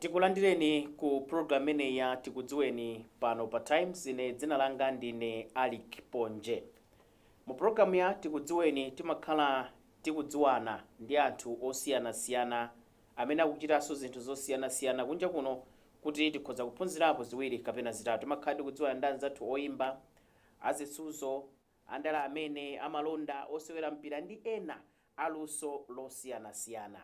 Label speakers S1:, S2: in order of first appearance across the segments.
S1: tikulandireni ku program imeneyi ya tikudziweni pano pa times ine dzina langa ndine alick ponje mu programu ya tikudziweni timakhala tikudziwana ndi anthu osiyanasiyana amene akuchitanso zinthu zosiyanasiyana kunja kuno kuti tikhoza kuphunzirapo ziwiri kapena zitatu timakhala tikudziwana ndi anzathu oyimba azisuzo andale amene amalonda osewera mpira ndi ena aluso losiyanasiyana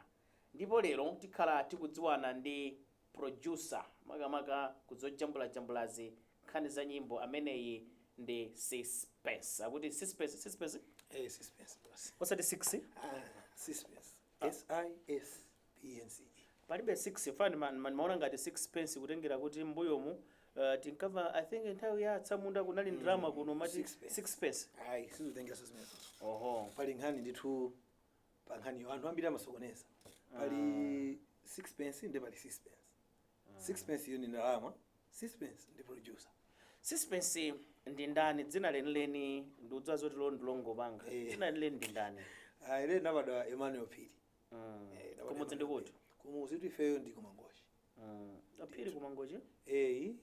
S1: ndipo lero tikhala tikudziwana ndi producer makamaka ku zojambulajambulazi nkhani za nyimbo ameneyi ndi Sispence akuti Sispence Sispence Eh,
S2: Sispence boss.
S1: osati 6 Ah, Sispence.
S2: S I S P N C E. palibe 6
S1: chifukwa ndimaona ngati 6 pence kutengera kuti mbuyomu uh, tinkava i think nthawi ya atsamunda kunali ndalama kuno amati six pence. 6 pence Ayi,
S2: sizotengera six pence. oho Pali nkhani
S1: ndithu
S2: pa nkhaniyo anthu ambiri amasokoneza pali sixpence ndi pali sispence sixpence iyo ndi ndalama sispence ndi producer sispence
S1: ndi ndani dzina lenileni ndikudziwa zoti ilo ndilongopanga Eh. dzina lenileni ndi ndani Ah, ine nabadwa
S2: emmanuel phiri Mm. Eh, nabadwa kumudzi
S1: ndi Emmanuel kuti Phiri. kumudzi kuti ifeyo ndi
S2: kumangochi Mm.
S1: Aphiri ku Mangochi?
S2: Eyi.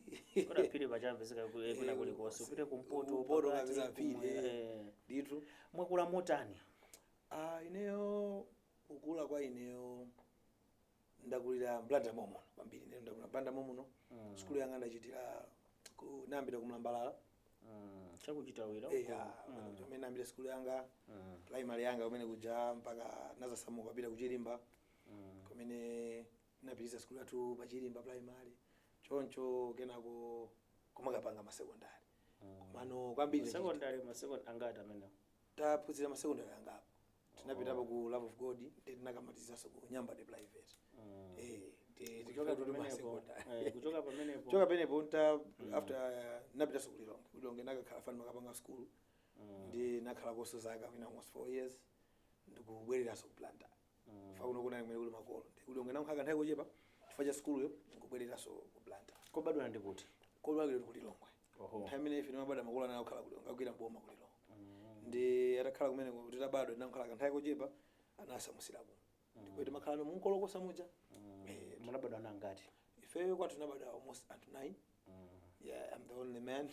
S2: Kodi aphiri paja amapezeka
S1: ku- eh, kwina kulikonse kupita kumpoto Kumpoto pakati, kapeza
S2: aphiri. kumwe- eh. Ndithu. Mwakula motani?
S1: Ah, ineyo
S2: kukula kwa ineyo ndakulira m'blantyre momuno kwambiri ineyo ndakula m'blantyre momuno Mm. sukulu yanga ndachitira ku- nayambira ku mlambalala
S1: Mm. Cha ku Chitawira. eya Mm. kumene
S2: nayambira sukulu yanga Mm. primary yanga kumene kuja mpaka nazasamuka kupita kuchilimba Mm. kumene Ndinapitiliza sukulu yathu pa Chilimba primary choncho kenako kumakapanga ma secondary komano kwambiri tachita- Secondary ma second
S1: angati amenewo? taphunzira ma
S2: secondary angapo tinapitapo ku love of god ndi tinakamalizaso ku nyambadwe private eh ndi- Kuchoka ndi- ndi- ma pamenepo, secondary. eh, kuchoka pamenepo. Kuchoka pamenepo nta after napitaso ku lilongwe Ku lilongwe nakakhala chifukwa ndimakapanga school ndi nakhalakoso zaka mwina almost 4 years ndikubwereraso ku blantyre chifukwa kuno kunali kumene kuli makolo ndi kulilongwe nakhala kanthawi kochepa chifukwa cha sukuluyo nkubwereranso ku blantyre kobadwa ndi kuti
S1: kobadwa ndi kulilongwe
S2: Oho. nthawi imene ife timabadwa makolo anali kukhala kulilongwe akugwira mboma kulilongwe ndi atakhala kumene kuti tabadwa tinakhala kanthawi kochepa anasamusira kuno ndipo timakhala no munkolokosa muja Eh, munabadwa
S1: ana angati ifeyo kwathu tinabadwa
S2: almost anthu 9 yeah i'm the only man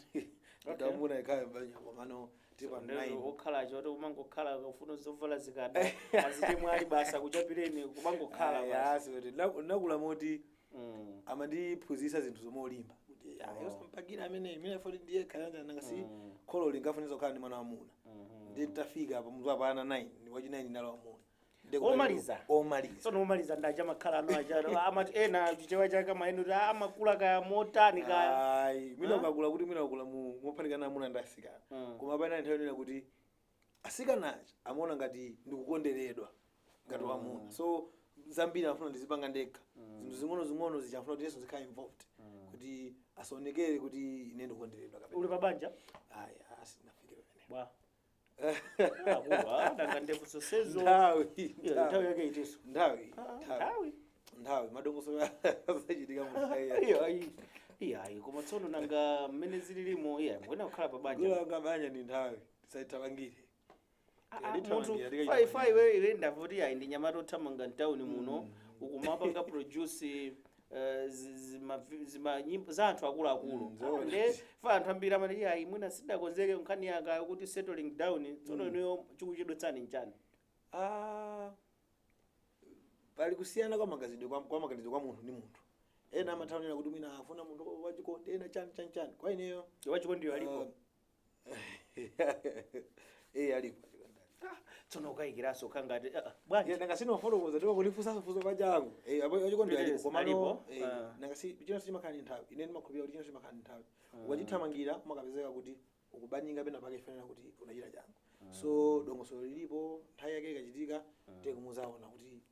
S2: mwamuna yekhayo m'banja komano tilipo Ndero 9 okhala choti
S1: kumangokhala kufuna zovala zikada azichemwali basi akuchapireni kumangokhala basi. ayi sikuti naku- nakula
S2: moti Mm. amandiphunzitsa zinthuzo molimba kuti ah, iwe sampakira amene imene foti ndiye khalanja nanga si Mm. kholo linkafunitsa kukhala ndi mwana wamuna Mhm. ndi tafika pa mutu apana 9 ndi wachi 9 ndinali wamuna Ndikupeza-
S1: omaliza omaliza
S2: tsono omaliza ndi aja amakhala
S1: ano aja amati ena chichewa chake amanena kuti amakula kaya motani kaya Ayi, mwina Ah. ukakula kuti
S2: mwina ukula mu- mophatikana amuna ndi asikana Mm. koma pena nthawi ina kuti asikana aja amaona ngati ndikukonderedwa ngati wamuna so zambiri amafuna ndizipanga ndekha zinthu zing'onozing'ono zija amafuna kuti iyeso azikhala involved kuti asaonekere kuti ine ndikukonderedwa kapena uli pabanja
S1: ayi
S2: asinafike pamene bwa
S1: Akuwa, nanga ndevu zonsezo. nthawi
S2: Yeah, nthawi yake itiso.
S1: nthawi Ah, nthawi Nthawi. nthawi
S2: madongosolo azachitika mu nthawi ya- Iyo, ayi. Iyo, ayi. Koma
S1: tsono nanga mmene zililimo, iya, mwina kukhala pa banja. ngula banja ndi
S2: nthawi tisaithamangire Ah,
S1: ah, Ndithu munthu ndiyalika fai chakudya. fai iwe iwe ndamva kuti ayi ndi mnyamata othamanga mtauni muno ukumapanga produce eh, zi- zima- zima- nyimbo za anthu akuluakulu Mm, zoona. nde chifukwa anthu ambiri amati "Iya, ayi mwina sindinakonzeke nkhani yanga yokuti settling down tsono inuyo chikuchedwetsani nchani
S2: Ah, pali kusiyana kwa maganizidwe kwa, kwa maganizidwe kwa munthu ndi munthu ena amatha kunena kuti mwina afuna munthu wachikondi ena chani chani chani kwa ineyo wachikondiyo alipo iye
S1: alipo tsono ukayikiraso kangati ah, ah, bwanji nanga sinafotokoza ndipo
S2: kundifunsaso funso pa changu Eh, apo achikondi Yes, alipo komano alipo. eh, Ah. nanga si chinthu chonse chimakhala ndi nthawi ine ndimakhulupirira kuti chinthu chonse chimakhala ndi nthawi ukachithamangira umakapezeka kuti ukubanyinga pena pake chifukwa chonena kuti unachita changu so dongosolo lilipo nthawi yake ikachitika ndiye muzaona kuti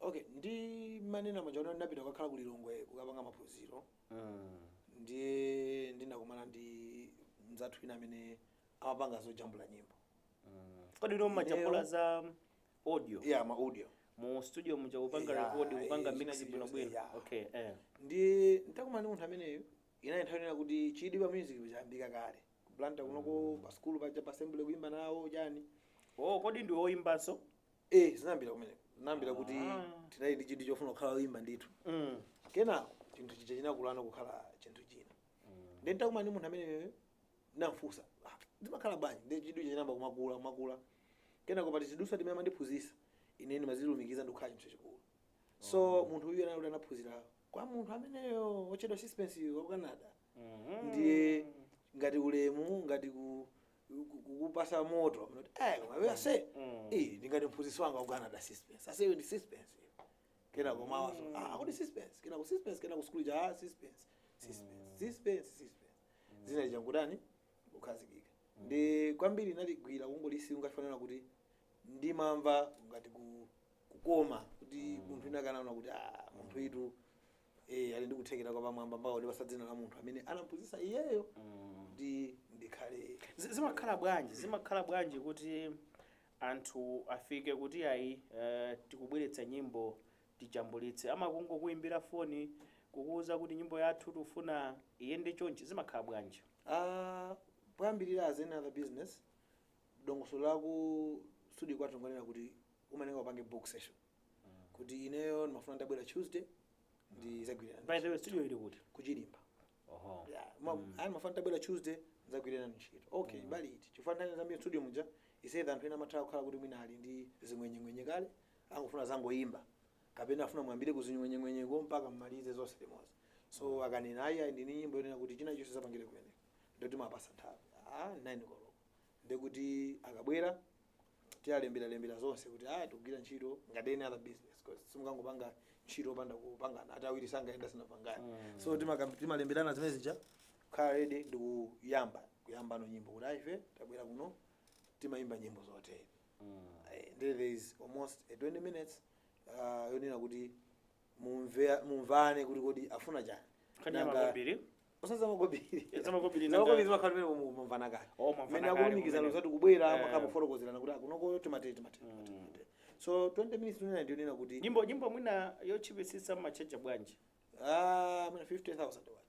S2: Ok, ndimanena muja kuti ndinapita kukakhala ku Lilongwe kukapanga maphunziro ndiye ndinakumana ndi mzathu wina amene amapanga zojambula nyimbo kodi
S1: ndi omajambula za audio ya ma audio
S2: mu studio
S1: muja kupanga Yeah, record kupanga eh, mix chimene bwino bwino yeah. okay eh
S2: ndiye nditakumana ndi munthu ameneyo inali nthawi ina kuti chidwi pa music chinayambika kale ku Blantyre kunoko pa skulu paja pa assembly kuimba nawo chani oh kodi ndi
S1: oyimbanso eh
S2: zinayambira kumeneko zinayambira kuti tinali ndi chidwi chofuna kukhala oyimba ndithu Mm. kenako chinthu chija chinakulana kukhala chinthu china ndiye nditakumana ndi munthu amene ndinamfunsa "Ah, zimakhala bwanji ndiye chidwi chija chinayamba kumakula kumakula kenako pa tizidutswa timene amandiphunzitsa ine ndimazilumikiza ndikukhala chinthu chachikulu so munthu uyu anali anaphunzira kwa munthu ameneyo otchedwa Suspense wa ku Canada ndiye ngati ulemu ngati ku ku- kukupasa moto amati eh koma iwe ase eh ndingati mphunzitsi wanga ku Canada suspense ase iwe ndi suspense iwe." kenako mawaso ah akuti suspense kenako suspense kenako school ja ah, suspense suspense suspense suspense dzina lija ngutani kukhazikika ndi kwambiri ndinaligwira kungolisi chifukwa chonena kuti ndimamva ngati ku kukoma kuti munthu inakanaona kuti ah munthu itu Eh, ali ndi kuthekera kwa pamwamba mpaka kumupatsa dzina la munthu amene anamphunzitsa iyeyo ndi Ndikhale Zi- zimakhala
S1: bwanji zimakhala bwanji kuti anthu afike kuti ayi eh, tikubweretsa nyimbo tijambulitse amakungokuimbira foni kukuwuza kuti nyimbo yathu tikufuna iyende chonchi zimakhala bwanji
S2: Ah, poyambirira as any other business dongosolo laku studio kwathu ngonena kuti umayenera upange book session kuti ineyo ndimafuna ndidzabwera tuesday ndizagwira na by the way studio
S1: ili kuti ku
S2: Chirimba oho Yeah, ma- ayi ndimafuna ndabwera tuesday ndizagwira ntchito okay bali iti chifukwa nthawi zambiri studio muja isayidha anthu ena amatha kukhala kuti mwina ali ndi zing'wenyeng'wenye kale angofuna zangoyimba kapena afuna muyambire kuzing'wenyeng'wenyeko mpaka mmalize zonse limodzi so akanena ayi ayi ndili ndi nyimbo yonena kuti china chonse nzapangire kumeneko nde timapasa nthawi ah nine koloko ndiye kuti akabwera tialemberalembera zonse kuti ah tikugwira ntchito ngati any other business because simungangopange ntchito opanda kupangana ati awiri sangayende asanapangane so timakam- timalemberana zimene zija kukhala ready ndi kuyamba kuyambano nyimbo kuti ah ife tabwera kuno timayimba nyimbo zotere Eh, there there is almost a 20 minutes uh, yonena kuti mumve- mumvane kuti kodi afuna chani Nkhani ya Nanga- makobiri? Zamakobiri zamakobiri
S1: nanga. zimakhala pamene
S2: mu- mumvana kale Oh, mumvana mene kale akulumikizana kumene. zoti akubwera Eh. mumakhala mufotokozerana kuti kunoko timatere timatere timatere. so 20 minutes tunena ndiyonena kuti Nyimbo nyimbo mwina
S1: yotchipitsitsa mumatchaja bwanji. ah,
S2: mwina 50000 kwacha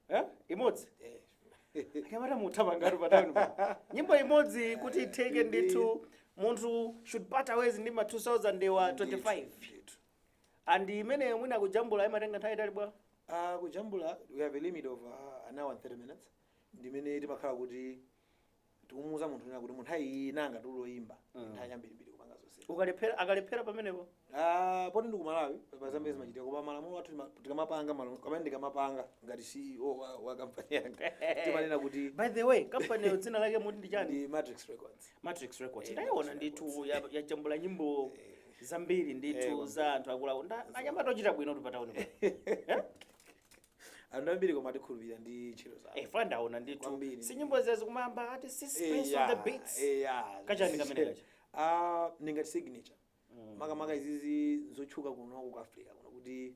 S1: Eh? Imodzi. Eh. Akamata mutaba ngati pa town. pa. Nyimbo imodzi kuti itheke ndithu munthu should part ways ndi ma 20 25. Ndithu. and imeneyo mwina kujambula imatenga nthawi itali bwanji Uh,
S2: kujambula we have a limit of uh, an hour and 30 minutes ndimene timakhala kuti tikumuuza munthu kunena kuti munthu ayenera atayimba Mm. nthawi yambirimbiri kupanga zonse ukalephera akalephera pamenepo
S1: Ah, poti
S2: ndi ku Malawi pa zambiri zimachitika koma malamulo athu tima- tikamapanga malamulo kumene ndikamapanga ngati ceo wa, wa kampani yanga timanena kuti by the way kampaniyo
S1: dzina lake muti ndi chani ndi matrix records
S2: matrix records Eh, ndaiona Matrix ndithu ya-
S1: yajambula nyimbo zambiri ndithu za anthu akuluwo anyamata ochita bwinotu
S2: patauni pa anthu ambiri koma akukhulupirirani ndi ntchito zawo eh chifukwa ndaona ndithu Kwambiri.
S1: si nyimbo izi kumayamba ati si space on the beats Kachani kamene kaja? ah ndi ngati signature
S2: makamaka izizi zotchuka kuno ku africa kuno kuti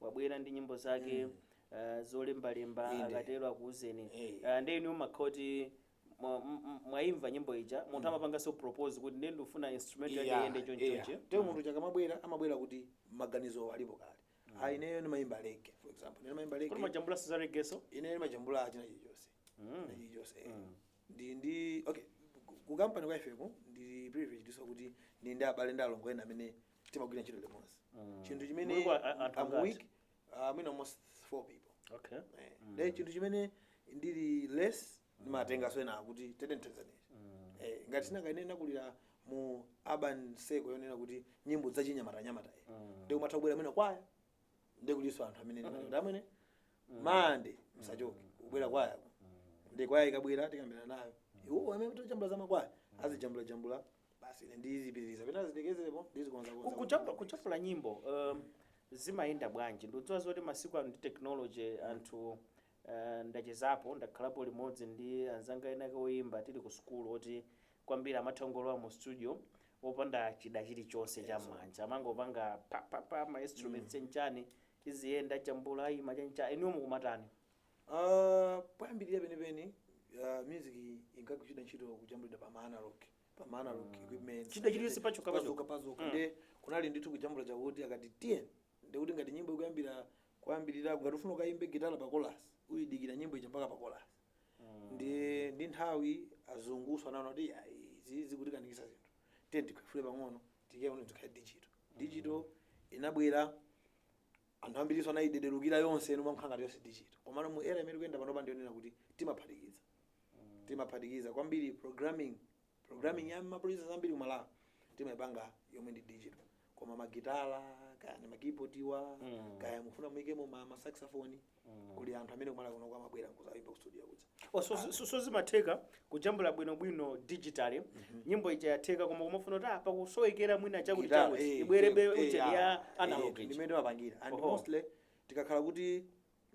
S1: wabwera ndi nyimbo zake mm. uh, zolembalemba akatero akuuzeni hey. uh, eh, nde inu mumakhala kuti mwaimva nyimbo ija munthu mm. amapanganso propose kuti ndiye ndikufuna instrument yake yeah, iyende chonchi chonchi yeah. nde munthu uja
S2: akamabwera amabwera kuti maganizo alipo kale mm. ah, ineyo ndimayimba reggae for example ine ndimayimba reggae kodi mmajambula za reggae
S1: so ine ndimajambula
S2: china chilichonse mm. chilichonse eh. mm. ndi ndi okay ku company kwa ifeko ndi privilege ndinso kuti ndili ndi abale ndi alongo ena amene timagwira ntchito limodzi chinthu chimene Mulungu a- a- anthu I'm angati? weak, uh, mwina almost four people okay
S1: Eh, then chinthu
S2: chimene ndili less ndimatenga soena kuti tedentezaneti eh, ngati sinakaine nakulira mu urban seko yonena kuti nyimbo zachinyamata-nyamata eh. ndiye kumatha kubwera mwina kwaya ndiye kulinso anthu amene ndimatenga amene mande msachoke kubwera kwaya ndiye kwaya ikabwera tikambirana nayo iwo amene ndi ojambula za makwaya azijambulajambula basi ine ndizipitiriza pena zitekezerepo ndizikonzakonza Kujambu, kujambula
S1: nyimbo um, zimayenda bwanji ndikudziwa zoti masiku ano ndi technology anthu uh, ndachezapo ndakhalapo limodzi ndi anzanga enake oyimba tili ku sukulu oti kwambiri amatha kungolowa mu studio opanda chida chilichonse cha mmanja amangopanga papapa ma instruments ndi chani iziyenda kujambula imatheka inuyo mumatani
S2: Aaa poyambilira penipeni ah, music inkagwiritsidwa ntchito kujambulidwa pa ma analog pa ma analog equipment Chida chilichonse pachoka,
S1: pachoka. pazoka
S2: ndiye kunali ndithu kujambula chakuti akati tiye ndekuti ngati nyimbo ikuyambira kuyambirira ngati ufuna ukayimbe gitala pa kolasi udikira nyimbo ija mpaka pa kolasi ndiye ndi nthawi azunguso anaona kuti "Ya, izi zikutikanikitsa zinthu tiye tikhwefule pang'ono tiyeni tikhale digital digital inabwera Anthu ambirinso anaidelukira yonse ino inakhala ngati yonse digital. Komano mu era imene tikuyenda panopa ndiyonena kuti timaphatikiza. Timaphatikiza kwambiri programming, programming ya ma producers ambiri ku Malawi timaipanga yomwe ndi digital. Koma ma gitala, kaya ndi ma keyboard wa, kaya mufuna muikemo ma, ma saxophone, kuli anthu amene ku Malawi kunoko amabwera nkuzaimba ku studio kudza. Oh, so, so, so
S1: zimatheka kujambula bwinobwino digitally nyimbo ija yatheka koma kumafuna kuti ah, pakusowekera mwina chakuti Guitar, chakuti eh, ibwerebe eh, eh, ujeni ah, ya eh, analog ndi mmene timapangira and
S2: Oho. mostly tikakhala kuti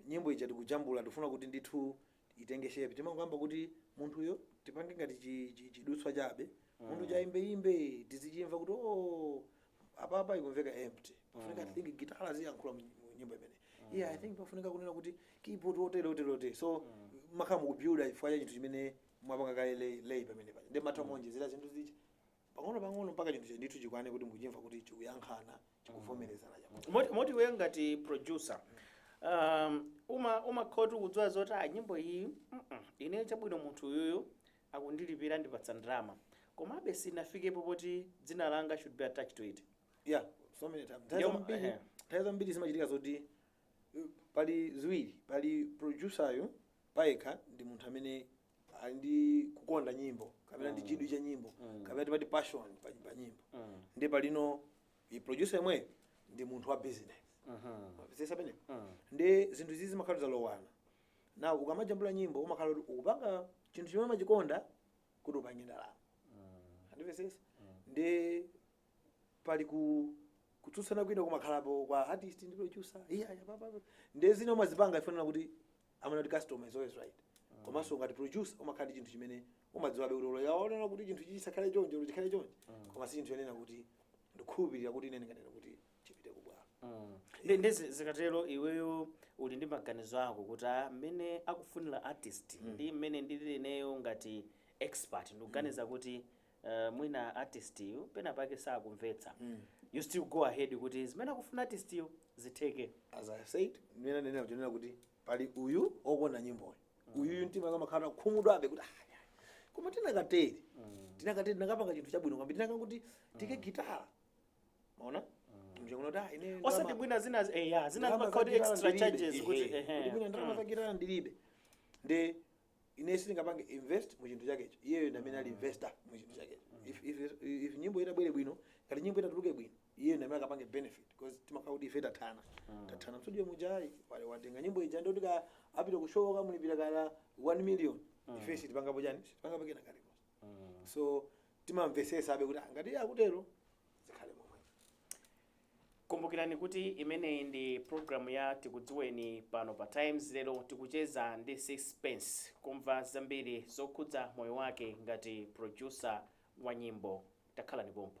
S2: nyimbo ija tikujambula tikufuna kuti ndithu itenge shape timangoyamba kuti munthuyo tipange ngati chi- chi- chidutswa chabe munthu waimbeimbe tizichimva kuti o apapa ikumveka empty pafunika i think gitala ziyankhula mu mu nyimbo imeneyi yeah i think pafunika kunena kuti keyboard otere otere otere so mumakhala mukubuilda chifukwa cha chinthu chimene mwapanga kale lay- lay pamene paja ndiye mumatha kumaonjezera zinthu zija pang'ono pang'ono mpaka chinthu chija ndithu chikwane kuti mukuchimva kuti chikuyankhana chikuvomerezana chakuti moti moti
S1: iwe ngati producer um, uma umakhoza kudziwa zoti a nyimbo iyi mm -mm, ine chabwino munthu uyuyu akundilipira andipatsa ndalama komabe sinafikepo poti dzina langa should be attached to it. Yeah, so many times.
S2: Nthawi Ndiyo- zambiri, ehe. nthawi zambiri zimachitika zoti uh, pali ziwiri, pali producer yo payekha ndi munthu amene ali ndi kukonda nyimbo kapena ndi chidwi cha nyimbo kapena timati passion pa, pa nyimbo Mm. ndiye palinso producer yemweyo ndi munthu wa business Mhm. Mumapeza pena Mm. ndiye zinthu izi zimakhala zalowana now ukamajambula nyimbo umakhala kuti ukupanga chinthu chimene umachikonda kuti upange ndalama andimvetsetsa ndi pali kutsutsana kwina kumakhalapo kwa artist ndi producer iya iya papa ndi zina umazipanga ife tinena kuti amanena kuti customer is always right komanso ngati producer umakhala ndi chinthu chimene umadziwabe kuti olo akunena kuti chinthu chichi chisakhale chonje olo chikhale chonje koma si chinthu chonena kuti ndikukhulupirira kuti ine ndinganena kuti chipite ku bwalo ndi ndi
S1: zi- zikatero iweyo uli ndi maganizo ako kuti ah, mmene akufunira artist ndi mmene ndili ineyo ngati expert ndikuganiza kuti eh, mwina artist yu pena pake sakumvetsa you still go ahead kuti zimene akufuna artist yu zitheke as i
S2: said mmene ndanena kuchoneka kuti pali uyu owona nyimboyo uyuyu mtima umakhala okhumudwabe kuti "Ah, ya." koma tinakatere tinakatere tinakapanga chinthu chabwino kwambiri tinakangoti tiike gitala maona mja kunoti ah ine osati ndalama- mwina zina
S1: eh, ya zina ndalama zimakhala kuti za extra gitala ndilibe. charges kuti Ehe. ehe. Kuti mwina ndalama za
S2: gitala ndilibe nde ine sindingapange invest mu chinthu chakecho iyeyo ndi amene ali investor mu chinthu chakecho if, if, if nyimbo itabwera bwino ngati nyimbo itatuluka bwino iyeyo ndi amene akapange benefit because timakhala kuti ife tathana tathana mstudio muja iye watenga nyimbo ija ndi kuti kaya apita ku show akamulipira kaya 1 million ife sitipangapo chani sitipangapo kena kalikonse so timamvetsetsabe kuti "Ah, ngati iye akutero zikhale
S1: momwe kumbukirani kuti imeneyi ndi programu ya tikudziweni pano pa times lero tikucheza ndi Sispense kumva zambiri zokhudza moyo wake ngati producer wa nyimbo takhalani pompho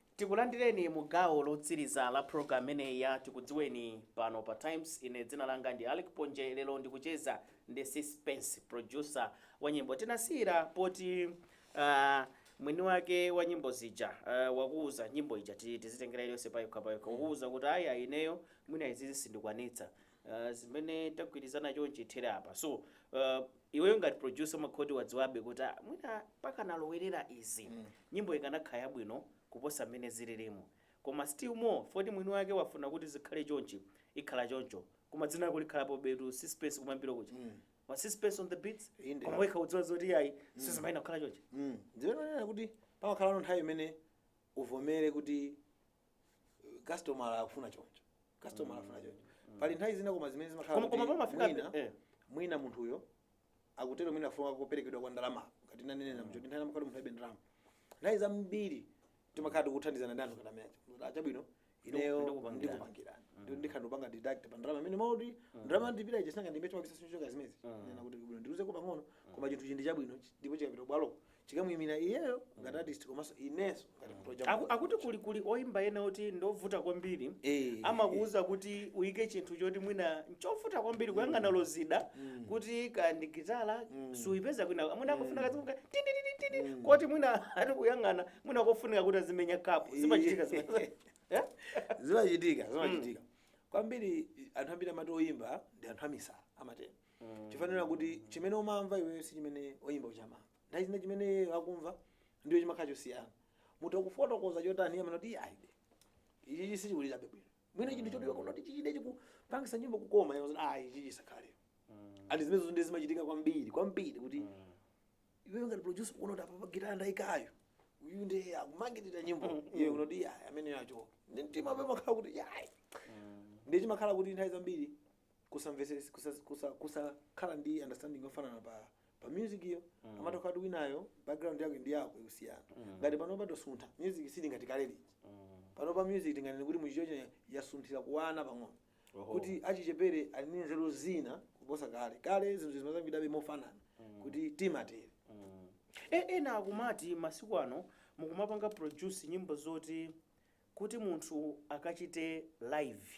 S1: Tikulandireni mu gawo lotsiriza la program imeneyi ya Tikudziweni pano pa Times. Ine dzina langa ndi Alick Ponje. Lero ndikucheza ndi Sispense, producer wa nyimbo. Tinasiyira poti ah, mwini wake wa nyimbo zija ah, wakuuza nyimbo ija ti- tizitengera iliyonse payokha payokha, wakuuza kuti aya ineyo mwina izizi sindikwanitsa. Uh, zimene tagwirizana chonchi zithere apa so uh, iweyo ngati producer umakhala kuti wadziwabe kuti ah, mwina pakanalowerera izi mm. nyimbo ikanakhala yabwino kuposa mmene zililimo koma still more poti mwini wake wafuna kuti zikhale chonchi ikhala choncho koma dzina lako likhalapobetu Sispense kumayambiro kuja mm. ma Sispense on the beats Inde. koma wekha udziwa zoti
S2: ayi
S1: mm. sizimayenera kukhala chonchi mm. ndiye ndinena kuti
S2: pamakhalano nthawi imene uvomere kuti customer akufuna choncho customer akufuna choncho pali nthawi zina koma zimene zimakhala Koma- koma kuti pamafika-
S1: mwina, eh. mwina munthuyo
S2: akutero mwina akufuna kuperekedwa kwa ndalama ngati ndimanena muja kuti nthawi zina amakhala munthu alibe ndalama nthawi zambiri timakhala tikuthandizana ndi anthu ngati amene aja chabwino ineyo ndikupangirani. ndikupangirani Ndi- ndikhala ndikupanga deduct pa ndalama imene moti ndalama ndipita ija sinanga ndimbe chipakisa sinchoka zimezi nena kuti mwina ndiluzeko pang'ono koma chinthu chikhale chabwino chi- ndipo chikapita bwalo chikamuimira iyeyo ngati artist komanso inenso ngati project Aku- akuti kuli
S1: kuli oyimba ena oti ndovuta kwambiri Eh. amakuuza kuti uyike chinthu choti mwina nchovuta kwambiri kuyang'ana olo zida kuti kaya ndi gitala suyipeza kwina mwina akufuna kazimveka tititititi koti mwina ati kuyang'ana mwina kofunika kuti azimenya kapu zimachitika zimene- Eh? zimachitika
S2: zimachitika kwambiri anthu ambiri amati oyimba ndi anthu amisala amatero chifukwa chonena kuti chimene umamva iweyo si chimene oyimba uja amamva nthawi zina chimene iyeyo akumva ndiyo chimakhala chosiyana munthu akufotokoza chotani iye akunena kuti ayibe ichichi sichikulirabe bwino mwina chinthu choti ukuona kuti ichichidi chikupangisa nyimbo kukoma iye akuti, ayi ichichi chisakhalepo ati zimenezonso zimachitika kwambiri kwambiri kuti iweyo ngati producer ukuona kuti apapa gitara ndayikayo uyu ndiye akumangirira nyimbo iye akuti kuti ayi ameneyo achoke ndi mtima ape makhala kuti ayi ndiye chimakhala kuti nthawi zambiri kusamvetsetsa kusa, kusa, kusakhala ndi understanding yofanana pa pa music yo mm. amatokhala kuti winayo background yake ndi yako ikusiyana mm. ngati panopa tasuntha music siili ngati kale lija mm. panopa music tinganene kuti muchichocho yasunthira kuwana pang'ono Oho. kuti achichepere ali ndi nzeru zina kuposa kale kale zinthu zimasoundabe mofanana mm. kuti timatere E-
S1: ena akumati masiku ano mukumapanga produce nyimbo zoti kuti munthu akachite live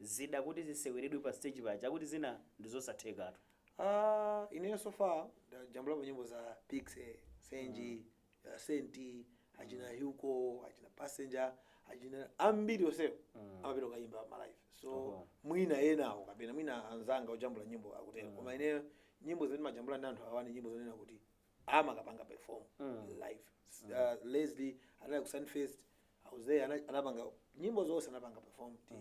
S1: zida kuti ziseweredwe pa stage paja akuti zina ndizosathekatu Ah,
S2: ineyo so far ndajambulapo nyimbo za Piksy senji uh, Saint achina Hugo achina Passenger achina ambiri onsewo amapita kukayimba ma live so Oho. mwina enawo kapena mwina anzanga ojambula nyimbo akutero koma ineyo nyimbo zimene ndimajambula ndi anthu awani nyimbo zonena kuti amakapanga perform live uh, leslie anali ku Sand Fest i was there ana- anapanga nyimbo zonse anapanga perform ti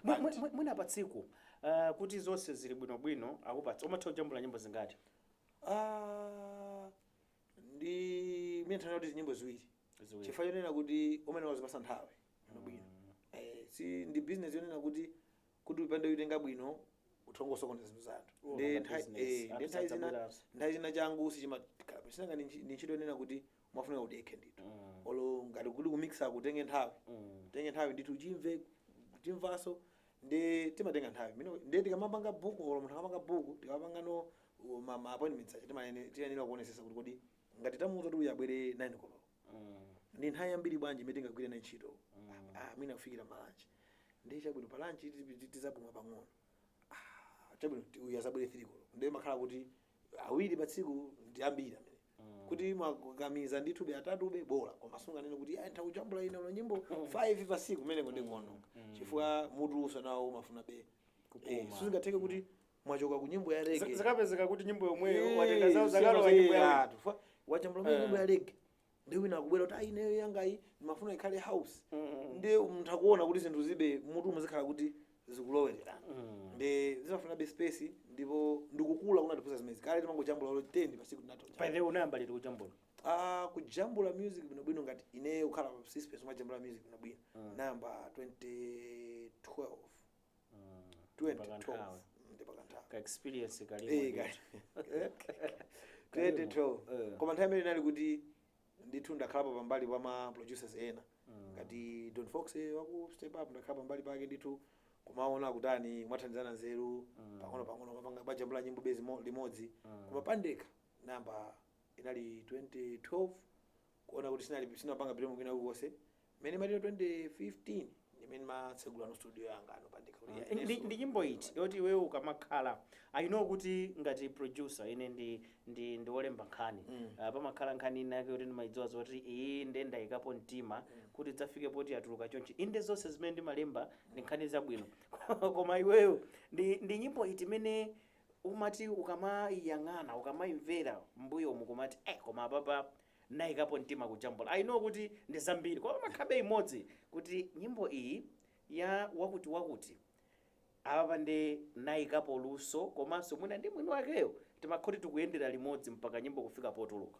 S2: Mwi- mwi- mwi- mwina
S1: pa tsiku ah, kuti zonse zili bwinobwino akupatsa umatha kujambula nyimbo zingati
S2: Ah, ndi mene titanena kuti nyimbo ziwiri Ziwiri. chifukwa chonena kuti imeneyo wazipatsa nthawi bwino bwino Eh, si ndi business yonena kuti kuti utapanda kuitenga bwino utha kungosokoneza zinthu za anthu Oh, Ndi nanga nthawi- business. eh, ndi Anthu nthawi zina- sadzabweranso. nthawi zina changu sichimakhala bwino sinanga ndi ntchi- ndi ntchito yonena kuti umafunika udekhe ndithu Mm. olo ngati kuli kumixa utenge nthawi Mm. utenge nthawi ndithu uchimve uchimvenso ndiye timatenga nthawi Mino- ndi tikamapanga buku olo munthu akamapanga buku tikamapanga no uh, ma ma appointments aja timayene- tiyenera kuonetsetsa kuti kodi ngati tamuuza kuti uyu abwere 9 koloko ndi nthawi yambiri bwanji imene tingagwire nayo ntchito ah, mwina kufikira ma lunch ndiye chabwino pa lunch tizapuma pang'ono Ah, chabwino ti- uyu azabwere 3 koloko ndiye makhala kuti awiri pa tsiku ndi ambiri mwina kuti mwakakamiza ndithube atatube bola koma sunganene kuti "Ah, ntakujambula ine olo nyimbo 5 pa tsiku kumeneko ndikuononga chifukwa mutuwunso nawo umafuna be Eh, sizingatheke kuti mwachoka ku nyimbo ya Z- rege zikapezeka kuti nyimbo
S1: yomweyo watenga zawo zakalowa nyimbo yawo wajambula mene Eh.
S2: nyimbo ya rege ndi wina akubwera kuti ayi ineyo yangayi ndimafuna ikhale house ndi munthu akuona kuti zinthu zibe mutu muzikhala kuti zikulowererana ndi zimafunabe space ndipo ndikukula kunatipusa zimenezi kale timangojambula olo 10 pasiku tinathodwa pa ife unayamba liti
S1: kujambula Ah, kujambula
S2: music bwinobwino ngati ineyo kukhala pa space umajambula music bwinobwino nayamba 2012
S1: 2012 ndipakanthawi ka experience Eh, kalimo
S2: ka- Kalimo. 2012 Eh. koma nthawi imene inali kuti ndithu ndakhalapo pambali pa ma producers ena Mm. ngati don fox eh, waku step up ndakhala pambali pake ndithu kumaona akutani mwathandizana nzeru Mm. pang'ono pang'ono mapanga bajambula nyimbo bezi mo- limodzi Mm. koma pandekha nayamba inali 2012 kuona kuti sinali sinapanga bilemu kwina kulikonse Mmene imati 2015 ndimene matsegula no studio yanga yanga no pandekha kuti ya Ndi- Yesu. ndi nyimbo
S1: iti yoti iweyo ukamakhala i know kuti ngati producer ine ndi ndi ndi wolemba nkhani Mm. Ah, pamakhala nkhani ina yake yoti ndimayidziwa zoti iyi nde ndayikapo mtima kuti idzafike poti yatuluka chonchi inde zonse zimene ndimalemba ndi nkhani zabwino koma iweyo ndi ndi nyimbo iti imene umati ukamayiyang'ana ukamayimvera mbuyomu kumati eh koma apapa Nayikapo mtima kujambula I know kuti ndi zambiri koma pamakhabe imodzi kuti nyimbo iyi ya wakuti wakuti apapa nde nayikapo luso komanso mwina ndi mwini wakeyo timakhoti tikuyendera limodzi mpaka nyimbo kufika potuluka.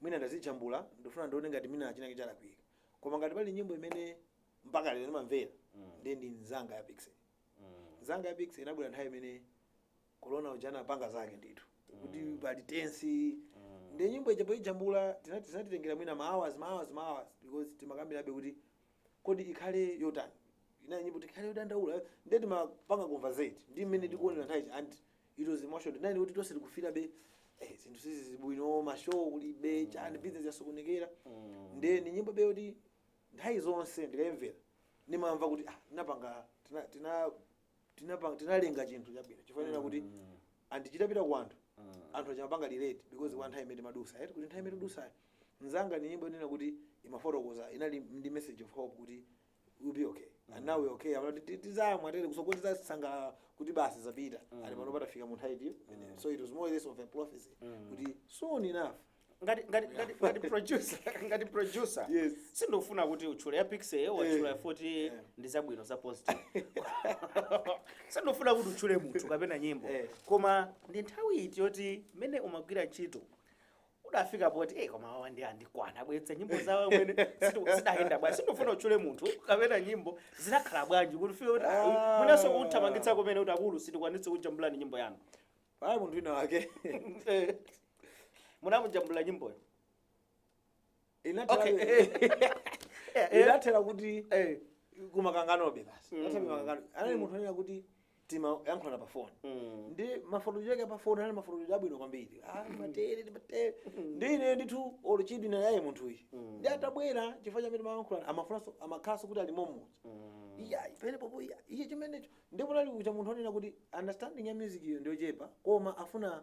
S2: Mwina ndazijambula ndifuna ndione ngati mwina chinake chalakwika koma ngati pali nyimbo imene mpaka lero ndimamvera ndiye ndi Nzanga ya Piksy Nzanga ya Piksy inabwera nthawi imene corona uja anapanga zake ndithu kuti pali tense nde nyimbo ija poijambula tinati tinatitengera mwina ma hours ma hours ma hours because timakambirabe kuti kodi ikhale yotani inali nyimbo tikhale yodandaula ndiye timapanga conversate ndi mmene tikuonera nthawi ija and it was emotional ndani kuti tonse tikufeelabe eh zinthu sizili bwino ma show kulibe chani business yasokonekera nde ni nyimbo be yoti nthawi zonse ndikayimvera nimamva kuti ah tinapanga tina tina tinapanga tinalenga chinthu chabwino chifanira kuti and chitapita ku anthu anthu amachipanga relate because kwa nthawi imene madutsa eti kuti nthawi imene dutsa nzanga ni nyimbo inena kuti imafotokoza inali ndi message of hope kuti we'll be okay and now we okay Amati, "Ti- tizamwa tea kutsogolo tizasangalala kuti basi zapita ali pano patafika mu nthawi iyo so it was more or less of a prophecy kuti soon enough ngati ngati ngati ngati producer
S1: ngati producer Yes.
S2: sindofuna kuti
S1: utchule ya Piksy watchula Eh. futi ndi zabwino za positive sindofuna kuti utchule munthu kapena nyimbo Eh. koma ndi nthawi iti yoti mmene umagwira ntchito udafika poti eh koma awawa ndiye andikwana abweretsa nyimbo zawo mmene situ- zidayenda bwanji sindifuna utchule munthu kapena nyimbo zinakhala bwanji kufika kuti Ah. mwinanso kuthamangitsa kumene kuti akulu sitikwanitse kukujambulirani nyimbo yanu pali munthu wina
S2: wake
S1: Eh, munamujambulira nyimboyo Inathera Okay.
S2: kuti- Eh, eh. inathera kuti Eh. kumakanganobe basi Inathera kumakangano. anali munthu onena kuti timayankhulana pa foni Mm. ndiye mafotokozedwe ake pa foni anali mafotokozedwe abwino kwambiri Ah, matere ndi matere ndi ine ndithu oluchidwi na yaye munthu uyu ndiye atabwera chifukwa cha amene timayankhulana amafunanso amakhalanso kuti ali momodzi iya panepo iya iye chimenecho ndipo anali kukhala munthu onena kuti understanding ya music iyo ndiyochepa koma afuna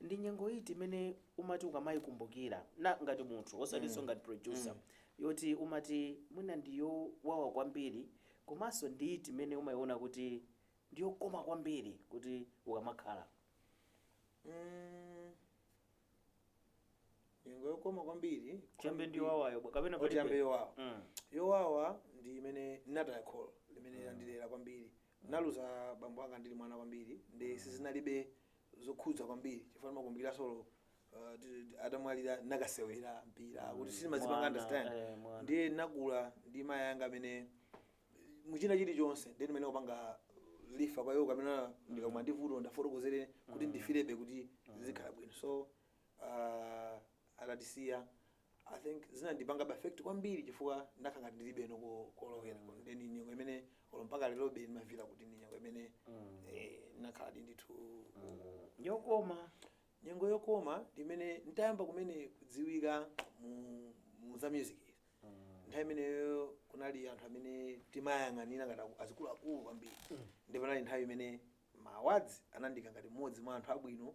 S1: Ndi nyengo iti imene umati ukamaikumbukira na ngati munthu osatinso ngati producer yoti umati mwina ndi yowawa kwambiri komanso ndi iti imene umaiona kuti ndi yokoma kwambiri kuti ukamakhala
S2: Nyengo yokoma kwambiri tiyambe ndi
S1: yowawayo bwa- kapena tiyambe palibe?
S2: yowawa Mm. yowawa ndi imene nataya kholo limene landirera kwambiri naluza bambo anga ndili mwana kwambiri ndiye sizinalibe zokhudza kwambiri chifukwa ndimakumbukira zoti olo uh, ti- ti- atamwalira nakasewera mpira kuti sindimazipanga Mwana, understand eh, mwana. ndiye nakula ndi mayi anga amene muchina chilichonse ndiye ndimangopanga refer kwa iwo kumene ndikamva ndi vuto ndiwafotokozere kuti ndifilebe kuti zizikhala bwino so uh atatisiya I think zinandipangabe affect kwambiri chifukwa ndinakhala ngati ndilibeno ko- kolowera mm. then nyengo imene olo mpaka lerobe ndimafila kuti ndi nyengo imene mm. eh, ndinakhaladi ndithu mm.
S1: yokoma nyengo
S2: yokoma ndi mmene nditayamba kumene kudziwika mu, mu za music nthawi imeneyo kunali anthu amene timayang'anira ngati aku- azikuluakulu kwambiri ndipo inali nthawi imene ma awards anandiika ngati mmodzi mwa anthu abwino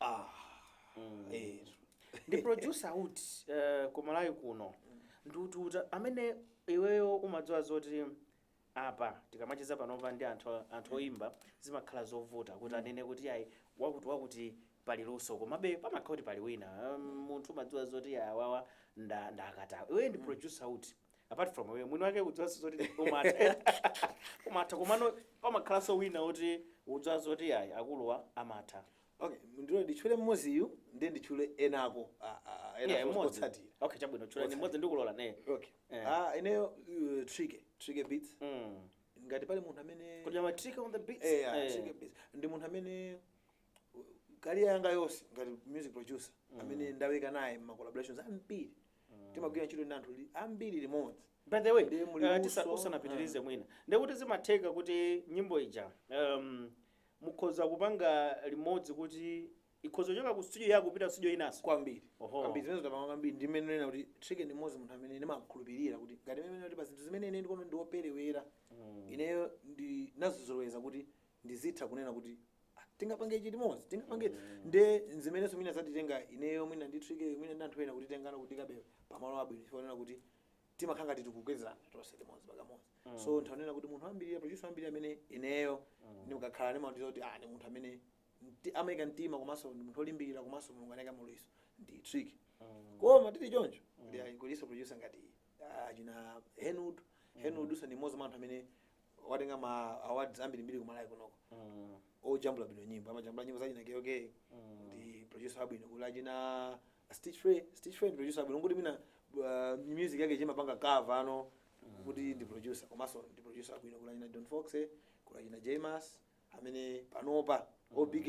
S2: ah
S1: eh ndi producer uti uh, ku malawi kuno ndi uti uti amene iweyo umadziwa zoti apa tikamacheza panopa ndi anthu anthu oyimba zimakhala zovuta kuti anene kuti ayi wakuti wakuti pali luso komabe pamakhala kuti pali wina Um, munthu umadziwa zoti awawa nda ndi akatswa iweyo ndi producer uti apart from iwe mwini wake udziwanso zoti umatha umatha komano pamakhalanso wina woti udziwa zoti ayi akuluwa amatha okay
S2: ndilole nditchule mmoziyu ndiye nditchule enanso a- a- a- Yeah, ena mmodzi. otsatira okay chabwino
S1: tchulani Otsatira. mmodzi ndikulola ne okay Eh.
S2: ah ineyo uh, trike trike beats Mm. ngati pali munthu amene kodi amati Trike on the beats Eh, ah,
S1: Eh. Trike Beats.
S2: ndi munthu amene career yanga yonse ngati music producer amene ndaweka naye ma collaborations ambiri timagwira ntchito ndi anthu li- ambiri limodzi by the way Ndiye muli
S1: eh, luso. tisa- musanapitirize mwina ndekuti zimatheka kuti nyimbo ija um, mukhoza kupanga limodzi kuti ikhoza kuchoka ku studio yako kupita ku studio inanso kwambiri Oho. kwambiri
S2: zimene tapanga kwambiri ndi mmene nena kuti Tricky ndi mmodzi munthu amene ndimakhulupirira kuti ngati mmene kuti pa zinthu zimene ine ndikuona ndioperewera ineyo ndinazizoloweza kuti ndizitha kunena kuti ah, tingapange ichi limodzi tingapange mm. nde nzimenenso mwina zatitenga ineyo mwina ndi Tricky mwina ndi anthu ena kutitenga kutiikabe pamalo abwino chifukwa nena kuti timakhala ngati tikukwezerana tonse limodzi pakamodzi mm. so nthawi nena kuti munthu ambiri producer ambiri amene ineyo mm. ndikakhala ndimaona kuti ah, ndi munthu amene mti- amaika mtima komanso ndi munthu olimbikira komanso mulungu anaika luso ndi Tricky koma tili choncho kuti ayi kuliso producer ngati ah, achina Henwood Henwood uja ndi mmodzi mwa anthu amene watenga ma awards ambirimbiri kumalawi kunoko ojambula bwino nyimbo amajambula nyimbo zachina keoke ndi producer wabwino kuli achina Stich Fray Stich Fray ndi producer wabwino kuti mwina uh, music yake chimapanga cover nano kuti ndi producer komanso ndi producer wabwino kuli achina don fox kuli achina James amene panopa obk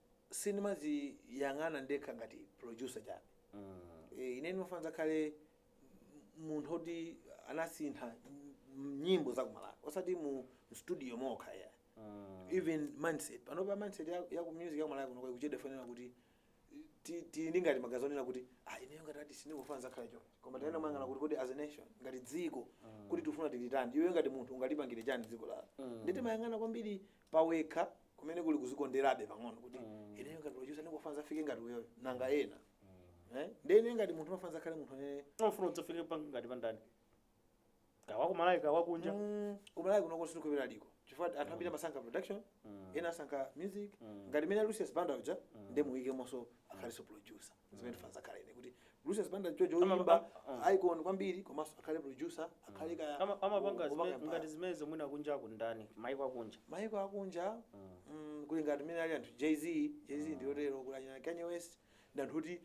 S2: sindimadziyang'ana ndekha ngati producer chabe Eh, ine ndimafuna ndidzakhale m- munthu oti anasintha m- nyimbo za kumalawi osati mu studio mokha ayi even mindset panopa mindset ya, ya ku music ya kumalawi kuno ikuchedwa chifukwa kuti ti- ti- ngati maganizo onena kuti ah ineyo ngati ati sindikufuna ndidzakhale choncho koma tiyeni tiziyang'ana kuti kodi as a nation ngati dziko kuti tifuna tiliteni iwe ngati munthu ungalipangire chani dziko lako ndi timayang'ana kwambiri pawekha kumene kuli kuzikonderabe pang'ono kuti ineyo ngati producer ndikufuna ndidzafike ngati uyoyo nanga ena Eh? nde ine ngati munthu ndimafuna ndidzakhale munthu amene Unofuna udzafike pa
S1: ngati pa ndani? Kaya wa kumalawi kaya wa kunja. Mm, kumalawi kuno
S2: kuti ndikupeza aliko chifukwa anthu ambiri amasankha production ena asankha music ngati mene lucius banda uja ndi muimbi komanso akhalinso producer zimene ndimafuna ndizakhale ine kuti Lucius Banda choncho Ama- oyimba am- ah. icon kwambiri komanso akhale producer akhale ka Ama- amapanga zime- kupanga ngati
S1: zimenezo mwina kunja kundani maiko akunja maiko akunja mm, kuli ngati mene ali anthu Jay-Z Jay-Z ndiyotero kuli achina kanye west ndi anthu kuti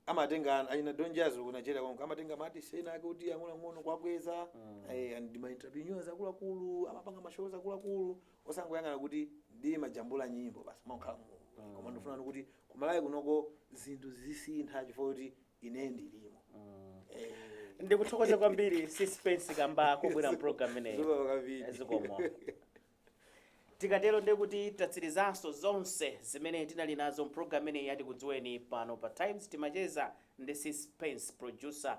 S1: amatenga achina Don Jazzy ku nigeria konko amatenga maartist ena ake kuti ang'onoang'ono kuwakweza eh, and ndi maentrepreneurs akuluakulu amapanga mashows akuluakulu osangoyang'ana kuti ndimajambula nyimbo basi kumangokhala mu mm. koma ndikufunano kuti kumalawi kunoko zinthu zizisintha chifukwa kuti ine ndilimo mm. eh. ndikuthokoza kwambiri Sispence kamba kobwera mprogram ineyi zikomo tikatero ndiye kuti tatsirizanso zonse zimene tinali nazo mprogram ineyi ya Tikudziweni pano pa times timacheza ndi Sispence producer